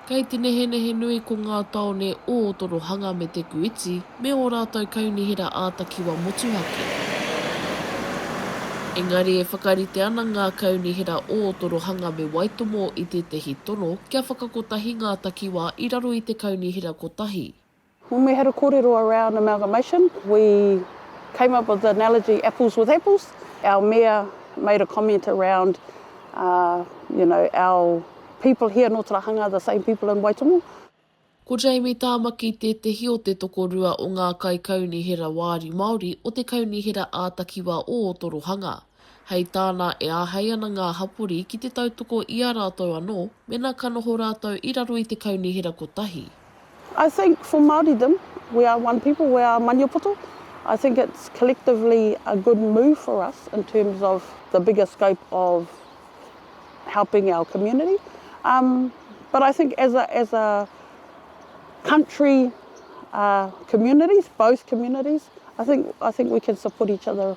Kei te nehenehe nui ko ngā tāone o Torohanga me Te Kuiti me ō rātou kaunihera ā-takiwa motuhake. Engari e whakarite ana ngā kaunihera o Torohanga me Waitomo i tētahi tono kia whakakotahi ngā takiwā i raro i te kaunihera kotahi. When we had a korero around amalgamation, we came up with the analogy apples with apples. Our Mayor made a comment around you know, our people here nō Tarahanga are the same people in Waitomo. Ko Jamie Tāmaki tētehi o te tokorua o ngā kaikaunihera wāri Māori o te Kaunihera ā-Takiwā ō Torohanga. Hei tāna e āhei ana ngā hapori ki te tautoko i a rātou anō mēnā ka noho rātou i raro i te kaunihera kotahi. I think for Māoridom, we are one people, we are Maniapoto, I think it's collectively a good move for us in terms of the bigger scope of helping our community. Um, but I think as a, as a country uh, communities, both communities, I think, I think we can support each other.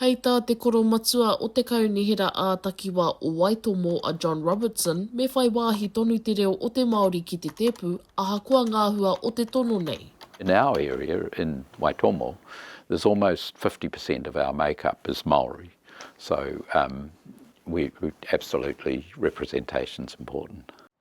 Hei tā te koromatua o te Kaunihera ā-Takiwā o Waitomo a John Robertson me whai wāhi tonu te reo o te Māori ki te tēpu ahakoa ngā hua o te tono nei. In our area in Waitomo there's almost fifty per cent of our make up is Maori so um we absolutely representation's important.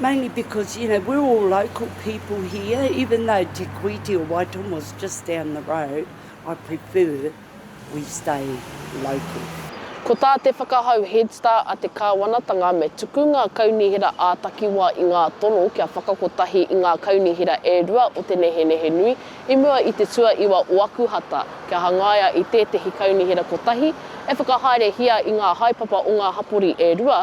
Mainly because, you know, we're all local people here, even though Te Kuiti or Waitomo's just down the road, I prefer we stay local. Ko tā te whakahau Head Start a te Kāwanatanga me tuku ngā kaunihera ā-takiwā i ngā tono kia whakakotahi i ngā kaunihera e rua o te nehenehe nui i mua i te tuaiwa o Akuhata kia hangaia i tētehi kaunihera kotahi e whakahaerehia i ngā haepapa o ngā hapori e rua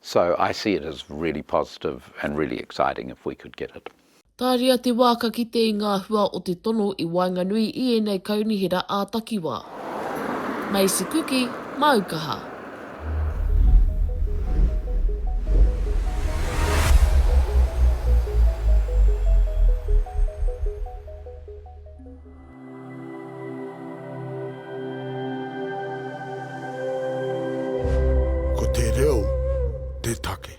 So I see it as really positive and really exciting if we could get it. Tāria te wā ka kite i ngā hua o te tono i waenganui i ēnei kaunihera ā-takiwā. Macy Kuki, Māukaha. Ko te reo te take.